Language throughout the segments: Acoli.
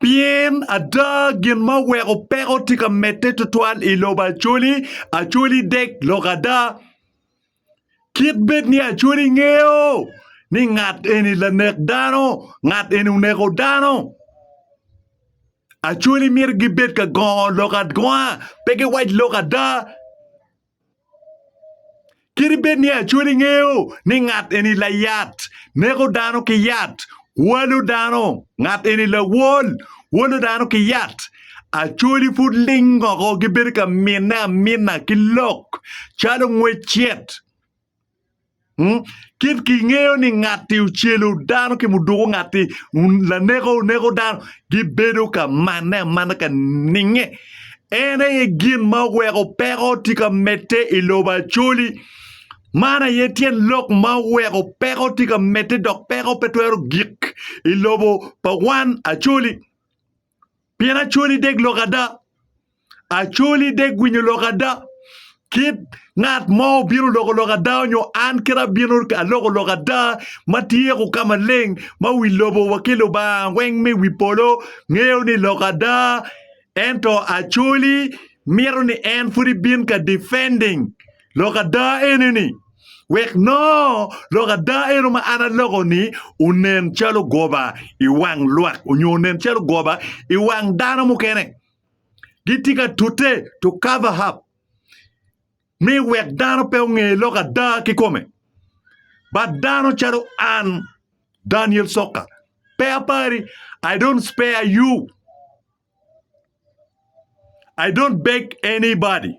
Pien ada gin ma weko peko tye ka medde tutwal i lobo acoli, acoli dek lok ada. Kit bed ni acoli ngeyo ni ngat eni lanek dano, ngat eni oneko dano. Acoli myero gibed ka gongo lok agonga, pe giwac lok ada. Kadi bed ni Acholi ngeyo ni ngat eni layat, neko dano ki yat, walo dano, ngat eni lawol, wolo dano ki yat, Acholi pud lingoko gibedo ka mine amina ki lok calo ngwec cit Mm? Kit kingeyo ni ngatti ocelo dano ki muduko ngatti un- laneko oneko dano gibedo ka manne amana ka ninge. En aye gin ma oweko peko tye ka medde i lobo acoli. Man aye tyen lok ma oweko peko tye ka medde dok peko pe twero gik i lobo pa wan acoli. Pien acoli dek lok ada, acoli dek winyo lok ada, kit ngat mo obino loko lok ada nyo an kite abino aloko lok ada ma tyeko ka maleng ma wi lobo wa ki Lubanga weng me wi polo ngeyo ni lok ada ento acoli mito ni en pwod ibin ka defending lok ada eni ni wek nongo lok ada eno ma an aloko-ni onen calo goba i wang lwak onyo onen calo goba i wang dano mukene. Gitye ka tute to cover up ni wek dano pe onge lok ada kikome. But dano calo an, Daniel Soka, pe apari, I don't spare you. I don't beg anybody.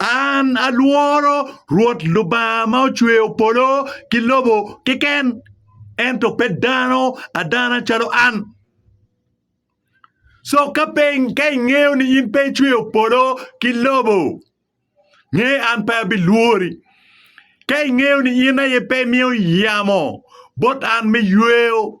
An alworo Rwot Lubanga ma ocweyo polo ki lobo keken, ento pe dano adana calo an. Co ka pe ka ingeyo ni in pe icweyo polo ki lobo, nge an pe abilwori. Ka ingeyo ni in aye pe imiyo yamo bot an me yweyo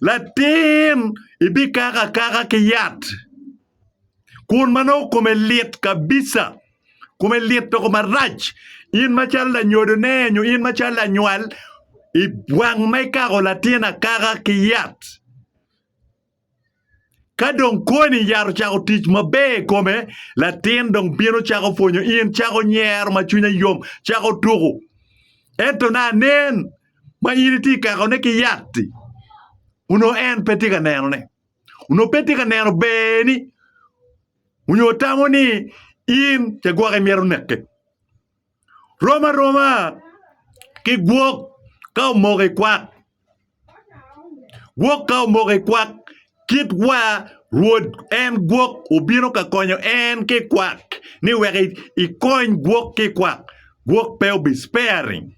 latin ibikako akaka ki yat kun ma nongo kome lit kabija kome lit doko marac in macalo lanyodone nyo in macalo lanywal iwang ma ikako latin akaka ki yat. Ka dong koni yat ocako tic maber i kome, latin dong bino cako pwonyo in, cako nyero ma cwinye yom, cako tuko. Ento na nen ma in itye ka kakone ki yat-ti, onongo en pe tye ka nenone. Onongo pe tye ka neno berni onyo tamo ni in cagwok imito neke. Rom aroma ki gwok ka omoko i kwak. Gwok ka omoko i kwak kit wa Rwod en gwok obino ka konyo en ki i kwak ni wek ikony gwok ki i kwak. Gwok pe obi sparing.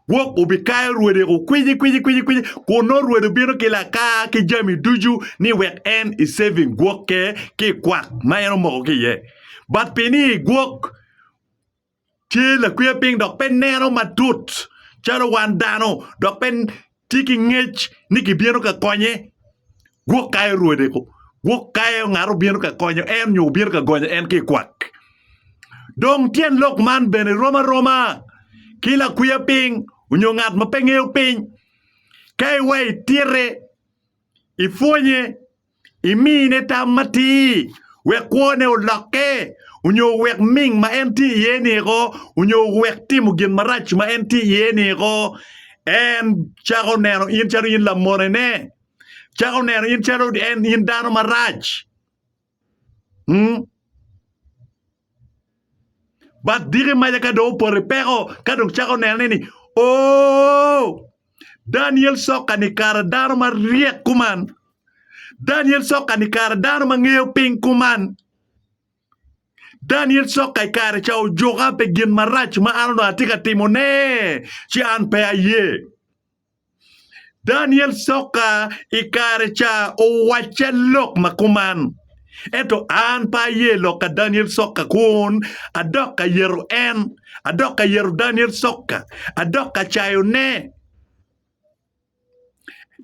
Wok obikayo rwode ku kwiji kwiji kwiji kwiji kun nongo rwode obino ki lakar ki jami ducu ni wek en i saving gwokke ki i kwak ma en omoko ki iye but pi ni gwok tye lakwiye piny dok pe neno matut calo wan dano dok pe tye ki ngec ni gibino ka konye. Gwok kayo rwodeko, gwok kayo ngat obino ka konyo en nyo obino ka gonyo en ki i kwak. Dong tyen lok man bene rom aroma ki lakwiya piny onyo ngat ma pe ngeyo piny. Ka iwa itite, ipwonye, imine tam matir wek kwone olokke, onyo wek ming ma en tye iye ni eko, onyo wek timo gin marac ma en tye iye ni eko. En cako neno in calo in lamonene, cako neno in calo en in dano marac. Mm. Bad diki maca ka dong opoto i peko ka dong cako nene ni oh Daniel Soka ni kara dano ma ryek kuman. Daniel Soka ni kara dano ma ngeyo piny kuman. Daniel Soka i kare ca ojuka pi gin marac ma an onongo atye ka timone ci an pe aye. Daniel coka i kare ca owacce lok ma kuman. Ento an pe aye lok ka Daniel coka kun adok ka yero en, adok ka yero Daniel coka, adok ka cayone.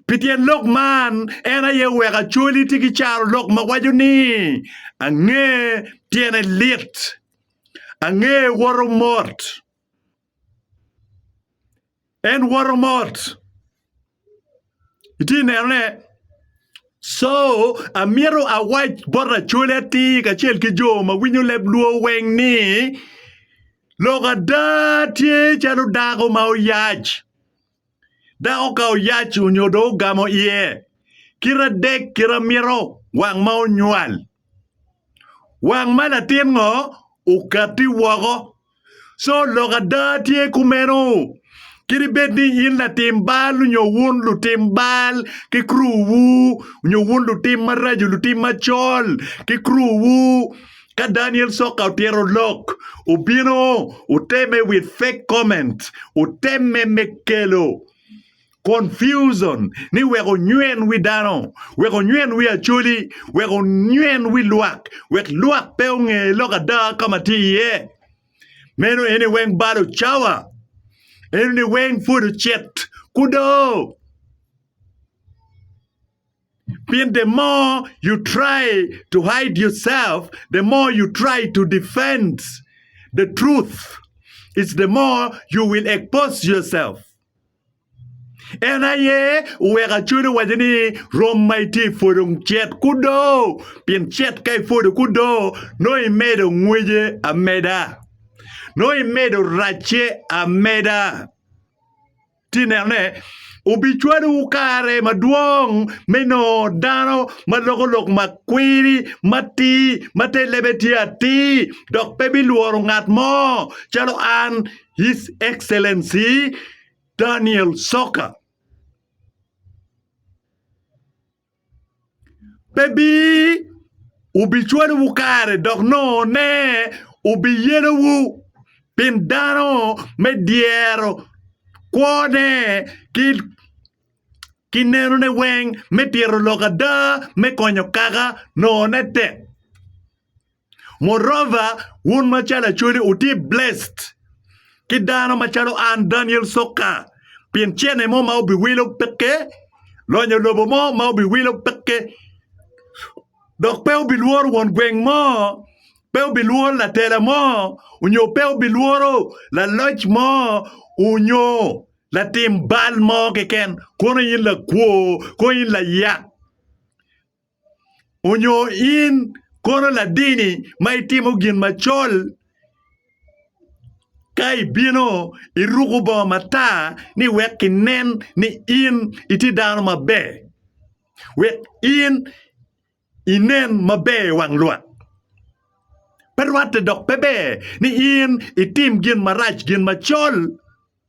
Pi tyen lok man, en aye oweko acwali tye ki caro lok ma waco ni ange tyene lit, ange woto mot. En woto mot. Itye nenone? Co, amito awac bot Acholi atir kacel ki jo ma winyo leb luo weng ni, lok ada tye calo dako ma oyac. Dako ka oyac onyo dong ogamo iye kite adek kite mito wang ma onywal. Wang ma latin ngo okati woko. So lok ada tye kumeno. Kadi bed ni in latim bal onyo wun lutim bal ki kru wu onyo wun lutim maraco lutim macol ki kru wu Ka Daniel Soka otito lok, obino oteme with fake comment, oteme me kelo confusion ni wek onywen wi dano, wek onywen wi Acholi, wek onywen wi lwak, wek lwak pe onge lok ada ka ma tye iye. Meno eni weng balo cawa. Eno ni weng pud ocit kudo. Pien the more you try to hide yourself, the more you try to defend the truth, it's the more you will expose yourself. En aye oweko acwalo waco ni rwom ma itye i pwodo cet kudo, pien cet ka ipwodo kudo nongo imedo ngwece ameda, nongo imedo racce ameda. Ti nenone, obicwalowu kare madwong me nongo dano ma loko lok ma kwiri, ma tii, ma te lebe tye atir, dok pe bilworo ngat mo, calo an, His Excellency Daniel Soka. pe bi ubicwalowu kare dok nongo-ne wubiyelowu, pien dano me dyero kwone ki nenone weng me tito lok ada me konyo kaka nongo-ne tek. Moreover, wun macalo Acholi wutye blessed ki dano macalo an Daniel Soka pien cene mo ma wubiwilo peke, lonyo lobo mo ma wubiwilo peke, dok pe wubilworo won gweng mo, pe wubilworo latela mo, onyo pe wubilworo laloc mo, onyo latim bal mo keken, kono in lakwo, kono in layak. Onyo in kono ladini ma itimo gin macol ka ibino iruko bongo matar ni wek kinen ni in itye dano maber wek in inen maber i wang lwak pe rwatte dok pe ber ni in itim gin marac gin macol.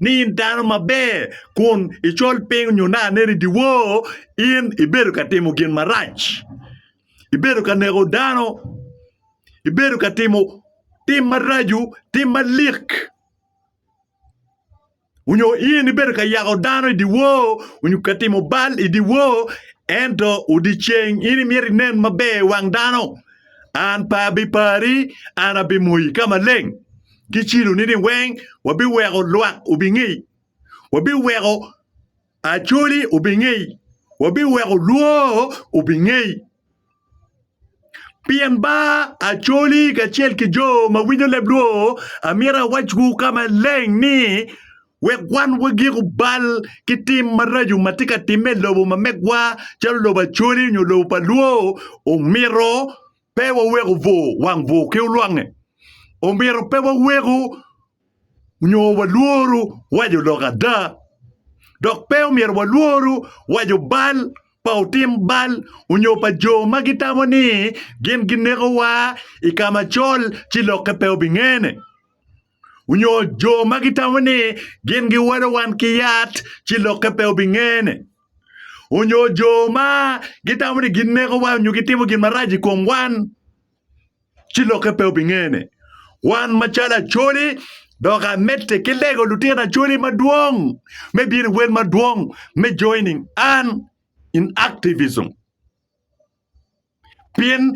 ni in dano maber kun icol piny nyo nongo aneni i dyewor in ibedo ka timo gin marac ibedo ka neko dano ibedo ka timo tim maraco tim malik onyo in ibedo ka yako dano i dyewor onyo ka timo bal i dyewor ento odiceng in imyero inen maber i wang dano an pe abipari an abimoyi ka maleng. ki ciloni-ni weng wabiweko lwak obingei, wabiweko acoli obingei, wabiweko lwor obingei. Pien ba acoli kacel ki jo ma winyo leb lwor amito awacwu ka maleng ni wek wan wagiko bal ki tim maraco ma tye ka timme i lobo ma megwa calo lobo acoli nyo lobo pa lwor omito Pe waweko bwor wang bwor ki olwangnge. Omyero pe waweko nyo walworu wa jo lok ada, dok pe omyero walworu wa jo bal pa otim bal onyo pa jo ma gitamo ni gin ginekowa i ka macol ci lokke pe obingene. onyo jo ma gitamo ni gin giwalo wan ki yat ci lokke pe obingene onyo jo ma gitamo ni gin neko wa onyo gitimo gin marac i kom wan ci lokke pe obingene wan macalo acoli dok amedde ki lego lutino acoli madwong me bino i wel madwong me joining an in activism Pien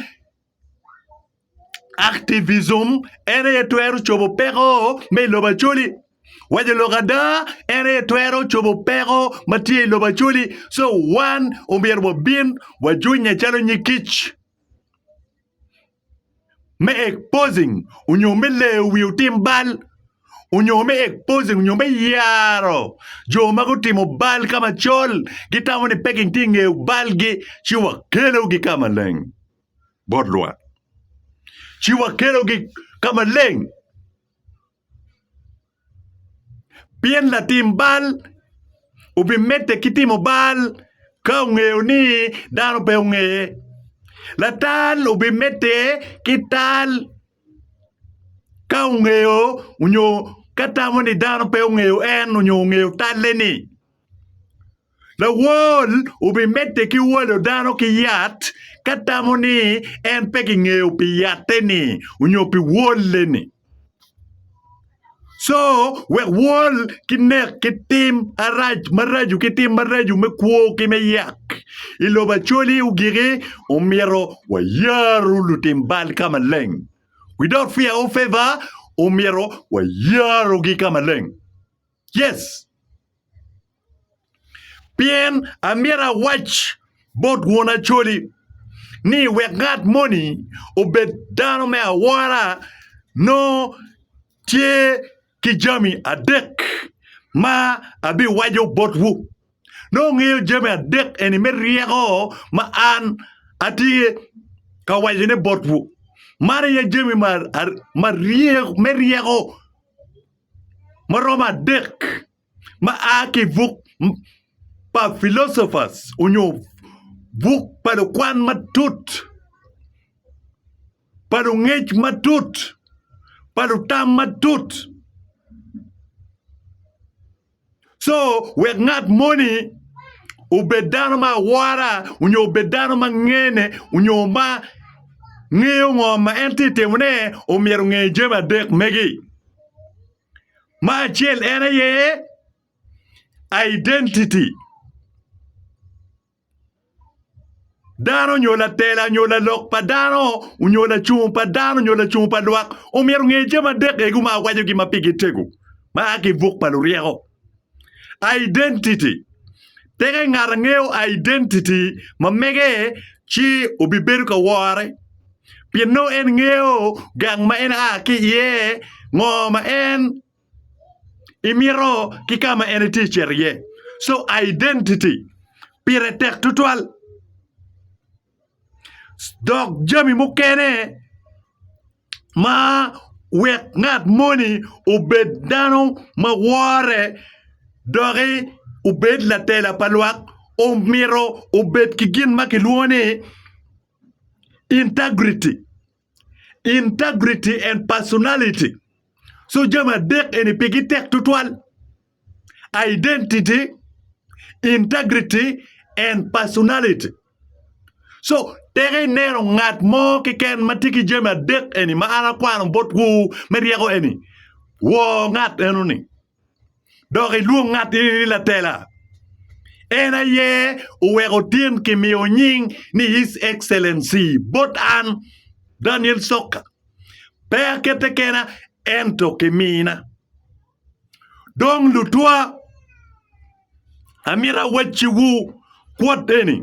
activism en aye twero cobo peko me i lobo Acholi. Waco lok ada en aye twero cobo peko ma tye i lobo Acholi. So wan omyero wabin wajunya calo nyig kic. me exposing onyo me leyo wi otim bal onyo me exposing onyo me yaro jo ma gutimo bal ka macol gitamo ni peking tye i nge balgi ci wakelogi ka maleng bot lwak ci wakelogi ka maleng Pien latim bal obimedde ki timo bal ka ongeyo ni dano pe ongeye, latal obimedde ki tal ka ongeyo nyo ka tamo ni dano pe ongeyo en nyo ongeyo talle-ni. Lawol obimedde ki wolo dano ki yat ka tamo ni en pe kingeyo pi yatte-ni onyo pi wolle-ni. Co wek wol ki nek ki tim arac maraco ki tim maraco me kwo ki me yak i lobo Acholi ogiki, omyero wayaru lutim bal ka maleng. We don't fear or favor, omyero wayarugi ka maleng. Yes! Pien amyero awac bot won Acholi ni, wek ngat moni obed dano me awora nongo tye ki jami adek ma abiwaco botwu. Nongo wungeyo jami adek eni me ryeko ma an atye ka wacone botwu. Man aye jami me ryeko ma romo adek. ma a ki i buk pa Philosophers onyo buk pa lukwan matut, pa lungec matut, pa lutam matut. Co wek ngat moni obed dano ma awora onyo obed dano ma ngene onyo ma ngeyo ngo ma en tye ka timone omyero onge jami adek magi. Ma acel en aye identity dano nyo latela nyo lalok pa dano nyo lacung pa dano nyo lacung pa lwak omyero onge jami adek egu ma awacogi ma pigi tego ma aa ki buk pa luryeko. Identity. Tika ngat angeyo identity ma mege ci obibedo ka wore pien nongo en ngeyo gang ma en a ki iye, ngo ma en imito ki ka ma en itye ka cito iye. So identity pire tek tutwal. dok jami mukene ma wek ngat moni obed dano ma wore doki obed latela pa lwak omito obed ki gin ma kilwongo ni integrity. integrity and personality so jami adek eni pigi tek tutwal identity integrity and personality so teke ineno ngat mo keken ma tye ki jami adek eni ma an akwano botwu me ryeko eni wor ngat enoni dok ilwong ngatti ni latela. En aye oweko tin kimiyo nying ni His Excellency bot an, Daniel Sokka. Pe akette kena ento kimina. Dong lutwa, amito awacciwu kwot eni.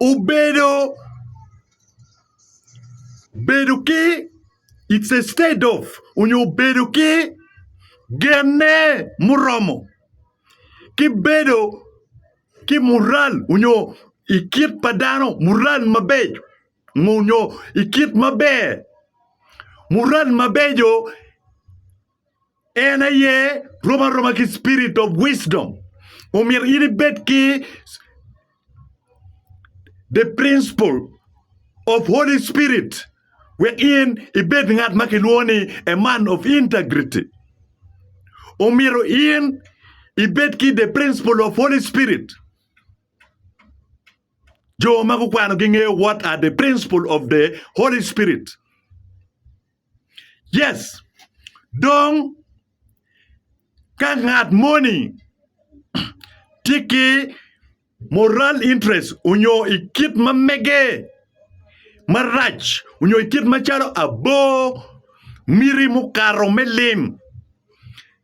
obedo bedo ki it's a state of nyo bedo ki genne muromo ki bedo ki mural nyo i kit pa dano mural mabeco nyo i kit maber mural mabeco En aye rom aroma ki spirit of wisdom. Omyero in ibed ki the principle of Holy Spirit wek in ibed ngat ma kilwongo ni a man of integrity. Omyero in ibed ki the principle of Holy Spirit. Jo ma gukwano gingeyo what are the principle of the Holy Spirit. Yes, dong ka ngat moni tye ki moral interest onyo i kit ma mege marac onyo i kit macalo abo, miti mukato me lim.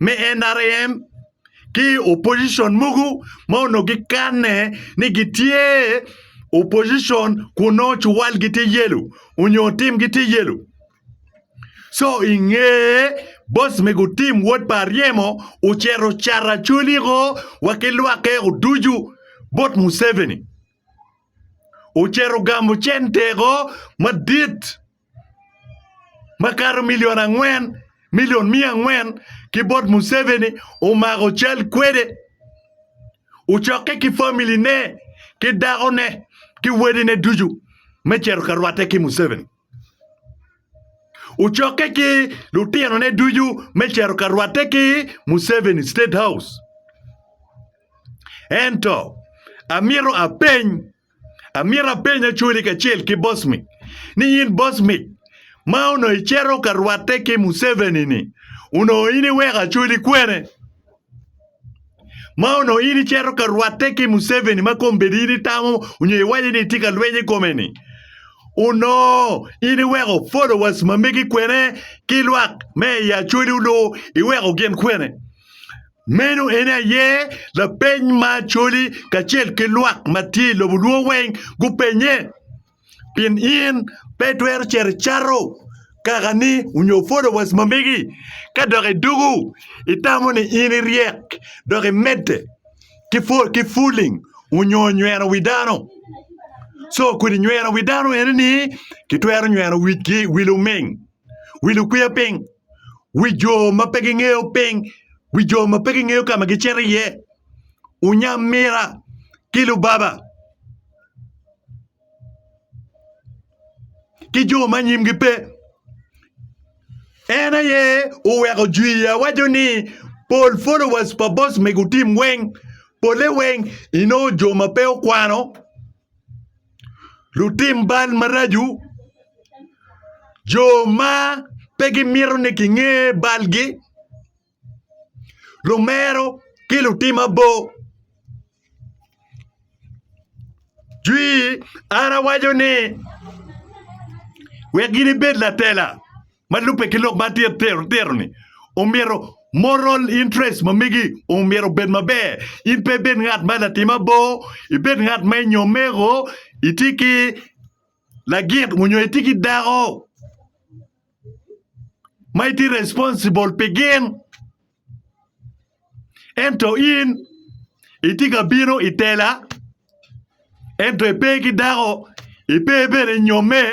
me nrm ki opposition mogo ma onongo gikanne ni gitye opposition kun nongo cuwalgi tye yelo onyo timgi tye yelo co i nge boc me gutim wot pa aryemo ocito ocato acoliko wa ki lwakke o ducu bot Museveni ocito ogamo cente o madit makato milion angwen milion miya angwen ki bot Museveni omako cal kwede ocokke ki family ne ki dako ne ki wede ne ducu me cito ka rwate ki Museveni ocokke ki lutino ne ducu me cito ka rwate ki Museveni state house ento amito apeny Amyero apeny Acoli kacel ki Bosmic ni in Bosmic ma onongo icito ka rwatte ki Museveni-ni, onongo in iweko Acoli kwene? Ma onongo in icito ka rwatte ki Museveni ma kombeddi in itamo nyo iwaco ni itye ka lweny i kome-ni, onongo in iweko followers ma megi kwene ki lwak me i Acoli olu iweko gin kwene? Meno en aye lapeny ma Acholi kacel ki lwak ma tye i lobo Luo weng gupenye. Pien in pe itwero cito icato kakani onyo followers ma megi. Ka dok idugu, itamo ni in iryek dok imedde ki fool ki fooling onyo nyweno wi dano. Co kodi nyweno wi dano ene ni kitwero nyweno wi luming, wi lukwiya piny. wi jo ma pe gingeyo piny, wi jo ma pe gingeyo ka ma gicito iye, Onyamira ki Lubaba ki jo ma nyimgi pe. En aye oweko jwii awaco ni pol followers pa boss mego team weng, pole weng inongo jo ma pe okwano. lutim bal maraco, jo ma pe gimito ni kinge balgi, lumero ki lutim abor. Jwi, An awaco ni, 'Wek gin ibed latela. ma lubbe ki lok ma titiro-ni omyero moral interest ma megi omyero obed maber. In pe ibed ngat ma latim abor, ibed ngat ma inyo omego, iti ki lagit onyo iti ki dako ma iti responsible pi gin. Ento in iti ka bino i tela ento ipe ki dako, ipe bene inyomme.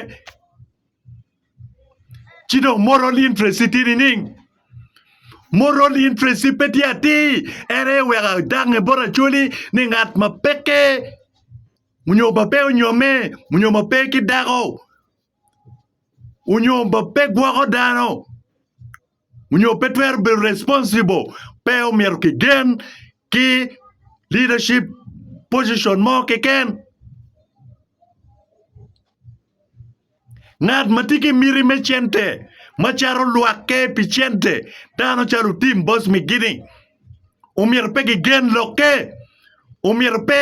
ci dong moral interest tye nining moral interest pe tye atir en aye wek adangnge bot acholi ni ngat ma peke onyo ma pe onyomme onyo ma pe ki dako onyo ma pe gwoko dano. onyo pe twero bedo responsible pe omyero ki gen ki leadership position mo keken ngat ma tye ki miti me cente ma cato lwakke pi cente dano calo Tim Bosmigini omyero pe ki gen lokke omyero pe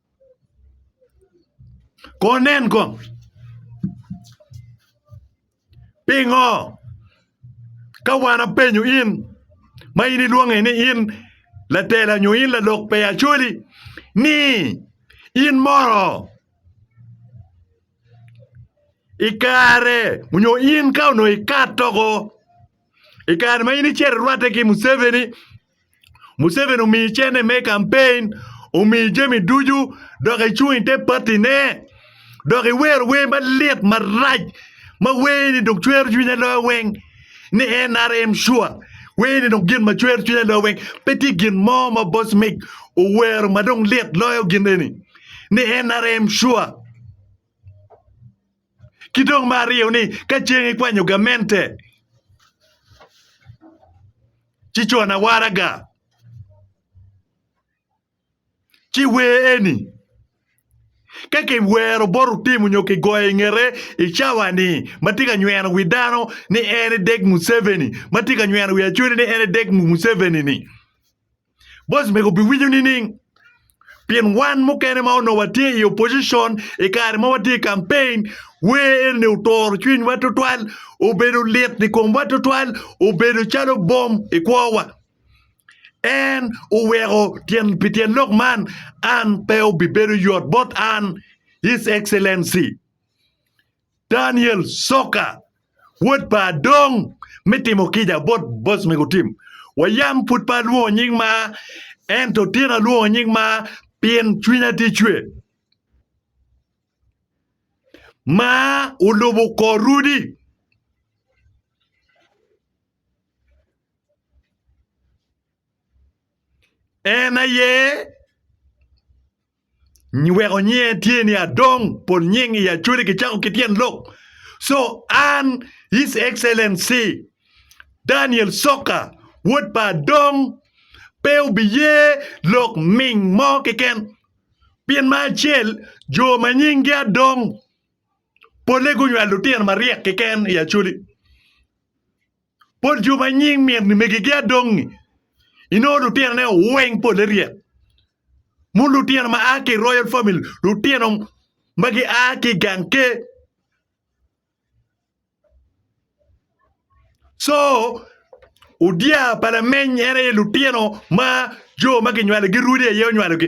Kono nen kong pingo ka wan apenyo in ma in ilwonge ni in latela nyo in lalok pe Acholi ni in moro i kare nyo in ka onongo ikato woko i kare ma in icito irwatte ki Muceveni Museveni omiyi cene me kampein, omiyi jami ducu dok icung ite patine dok iwero wer malit marac ma werni dong cwero cwinya loyo weng ni NRM sure werni dong gin ma cwero cwinya loyo weng pe tye gin mo ma boss Mick owero ma dong lit loyo gin eni ni NRM sure. Ki dong me aryo ni ka ceng ikwanyo gamente ci cona waraga ci wer eni ka kiwero bot otimo nyo kigoyo ingete i cawa ni ma tye ka nyweno wi dano ni en edek Museveni ma tye ka nyweno wi Acwele ni en edek Museveni ni Boc mego biwinyo nining? Pien wan mukene ma onongo watye i opposition i kare ma watye i campaign, wer eni oturo cwinywa tutwal, obedo lit i komwa tutwal, obedo calo bom i kwowa. En oweko tyen pi tyen lok man an pe obibedo yot bot an, His Excellency. Daniel Soka, wod pa Adong, me timo kica bot boss mego tim. Wayam pud pe alwongo nying ma, ento tyen alwongo nying ma pien cwinya tye cwe. Ma olubo kor Rudi. En aye. Nyweko nyinge tye ni Adong pol nying i Acholi kicako ki tyen lok. So an His Excellency Daniel Soka wod pa Adong pe obiye lok ming mo keken pien ma acel jo ma nyingi Adong pole gunywalo lutino maryek keken i Acholi. Pol jo ma nying mitni megigi adongi, inongo lutinone weng pole ryek. Mon lutino ma a ki i Royal Family, lutino ma gia ki i gang ker. Co odya pa lameny en aye lutino ma jo ma kinywalogi rwodi aye onywalogi.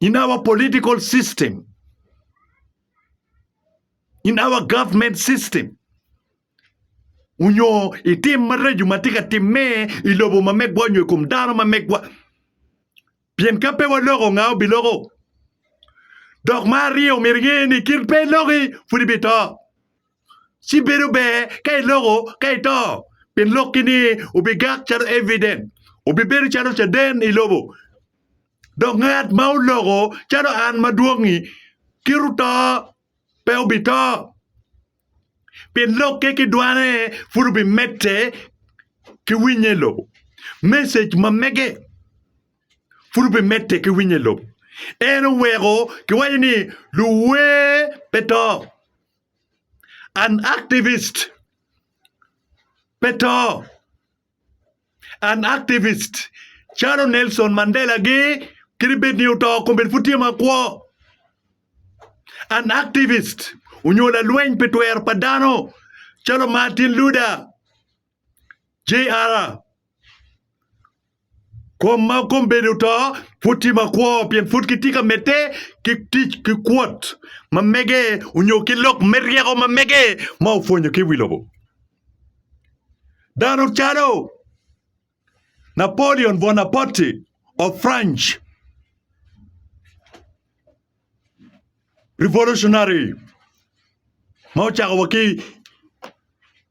in our political system, in our government system. Onyo itim maraco ma tye ka timme i lobo ma megwa onyo i kom dano ma megwa. Pien ka pe waloko nga obiloko. Dok ma aryo myero inge ni kit pe iloki pud ibito. ci bedo ber ka iloko ka ito, pien lokki ni obigak calo evident, obibedo calo caden i lobo. Dok ngat ma oloko calo an madwong-ngi kit oto pe obito, pien lokke ki dwane pud obimedde ki winye i lobo, message ma mege pud obimedde ki winye i lobo. En oweko kiwaco ni luwer pe to. An activist. Pe to. An activist. Calo Nelson Mandela gi kiri bed ni oto kong bed pud tye makwo. An activist. Onyo lalweny pi twero pa dano. Calo Martin Luther. JR, Kom ma kome bedo oto pud tye makwo pien pud kitye ka medde ki tic ki kwot ma mege onyo ki lok me ryeko ma mege ma opwonyo ki i wi lobo. Dano calo Napoleon Buonapote of French, revolutionary ma ocako wa ki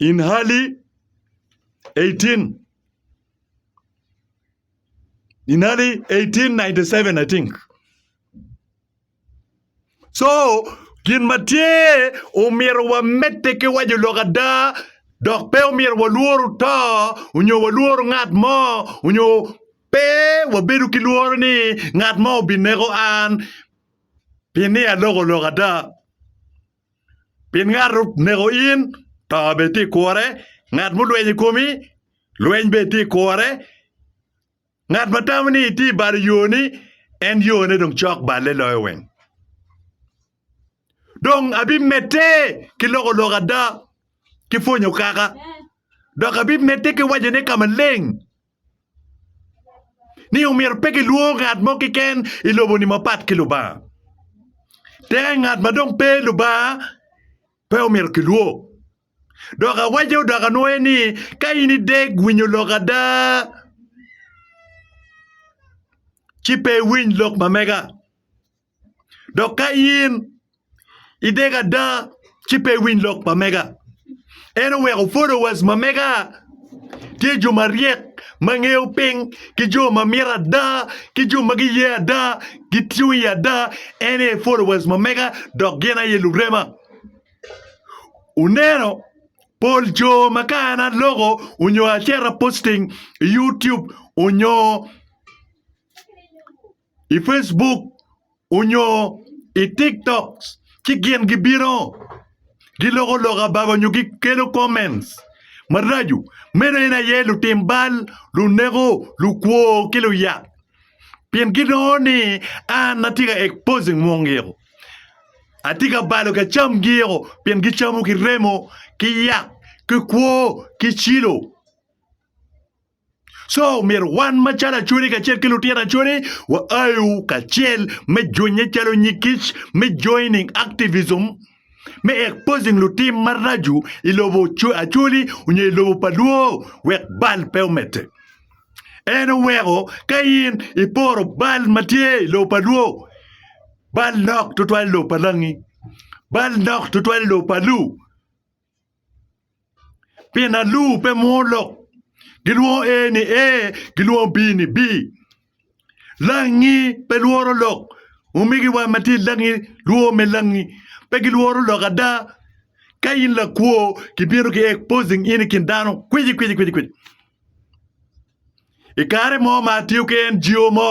In hali 18 in hali 1897 I think. So gin ma tye omyero wamedde ki waco lok ada dok pe omyero walworo to onyo walworo ngat mo onyo pe wabedo ki lworo ni ngat mo obineko an pi ni aloko lok ada. Pien ngat oneko in, to bene tye i kure, ngat mulweny i komi, lweny bene tye i kure. Ngat ma tamo ni itye i balo yoni, en yone dong cok balle loyo weng. Dong abimedde ki loko lok ada, ki pwonyo kaka, dok abimedde ki wacone ka maleng. ni omyero pe kilwongo ngat mo keken i lobo-ni mapat ki Lubanga. Tenge ngat ma dong pe Lubanga pe omyero kilwong. Dok awaco dok anwoye ni ka in ideg winyo lok ada ci pe iwiny lok ma mega. Dok ka in ideko ada ci pe iwiny lok pa mega. En oweko followers ma mega tye jo maryek ma ngeyo piny ki jo ma mito ada ki jo ma giye ada gitung i ada en aye followers ma mega dok gin aye lurema. Wuneno pol jo ma ka an aloko onyo aceto posting i YouTube onyo i Facebook onyo i TikTok ci gin gibino giloko lok abaga onyo gikelo comments maraco, meno en aye lutim bal, luneko, lukwo ki luyak pien ginongo ni an atye ka exposing mungio, atye ka balo ka camgio pien gicamo ki remo ki yak ki kwo ki cilo. Co myero wan macalo acodi kacel ki lutino acodi wa ayu kacel me junye calo nyig kic me joining activism me exposing lutim maracu i lobo acoli onyo i lobo pa lwo wek bal pe omedde. En oweko ka in iporo bal ma tye i lobo pa lwo bal nok tutwal i lobo pa langi bal nok tutwal i lobo pa lu Pien alur pe mwodo lok, gilwongo Ee ni ee, gilwongo Bii ni bii. Langi pe lworo lok, omegi wa ma tye i langi lwor me langi. Pe gilworo lok ada. Ka in lakwo, kibino ki exposing in i kin dano kwici kwici kwici kwici. I kare mo ma atiyo ki NGO mo,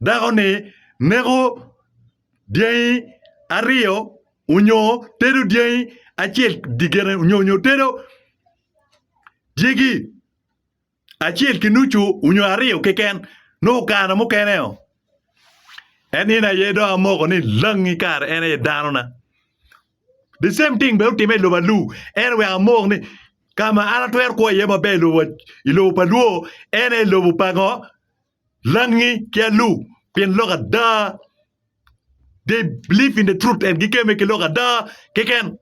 Dako-ni neko dyangi aryo onyo tedo dyangi acel dyegene onyo tedo dyegi acel ki nucu onyo aryo keken nongo kare mukene-o en eni aye dong amoko ni langi kare en aye danona the same thing bene otimme i lobo alur ento wek amok ni ka ma an atwero kwo iye maber i lobo pa lwor en aye lobo pa ngo Langi ki alu, pien lok ada they believe in the truth and gikeme ki lok ada keken.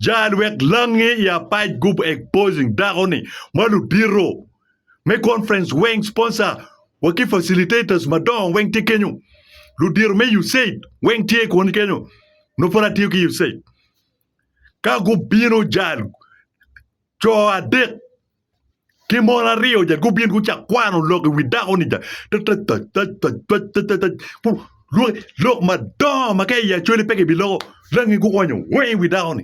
Jal wek langi i apac group exposing dako ni ma ludito me conference weng sponsor wa ki facilitators madongo weng tye kenyo. Ludito me USAID weng tye koni kenyo. No pud atiyo ki USAID. Ka gubino jal co adek Ki mon aryo ja gubin gucako kwano lok i wi dako-ni ja lok madongo ma ka i Acholi pe kibiloko rangi guonyo weng i wi dako-ni.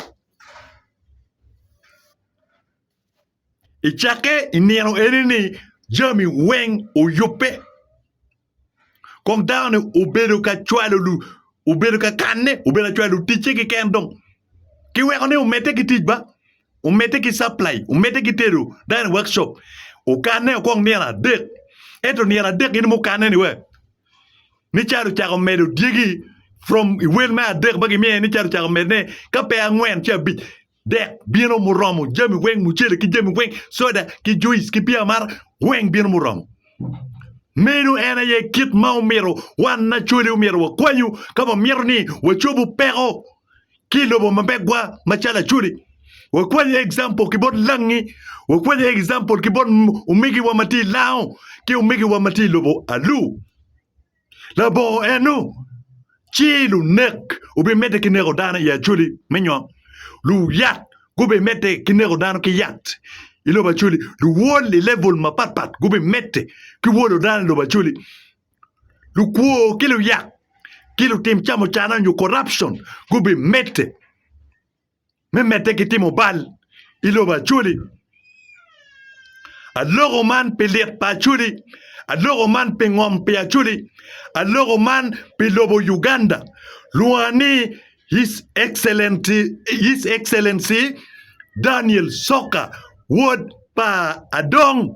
I cakke i nino eni-ni jami weng oyubbe. Kong dano-ni obedo ka cwalo lu, obedo ka kanne, obedo ka cwalo luticce keken dong. Kiweko ni omedde ki tic ba, omedde ki supply, omedde ki tedo dine workshop. Okanne okong nino adek. Ento nino adek in mukanne ni we? Ni calo ocako medo dyegi from i wel me adek ma gimiye ni calo ocako medone ka pe angwen ci abic. Dek bino muromo, jami weng, mucele ki jami weng, soda ki juice ki bia amata, weng bino muromo. Meno en aye kit ma omyero wan Acholi omyero wakwanyu ka wamito ni wacobo peko ki i lobo ma megwa macalo Acholi. Wakwanyu example ki bot langi, wakwanyu example ki bot omegiwa ma tye i lango ki omegiwa ma tye i lobo Alu. Labongo eno, ci lunek obimedde ki neko dano i Acoli me nywok, luyat gubimedde ki neko dano ki yat i lobo Acoli, luwol i level mapatpat gubimedde ki wolo dano i lobo Acoli, lukwo ki luyak ki lutim camucana nyo corruption gubimedde. me medde ki timo bal i lobo Acholi. Aloko man pi lit pa Acholi, aloko man pi ngom pi Acholi, aloko man pi lobo Uganda. Lwonga ni His Excellency, His Excellency Daniel Soka, wod pa Adong.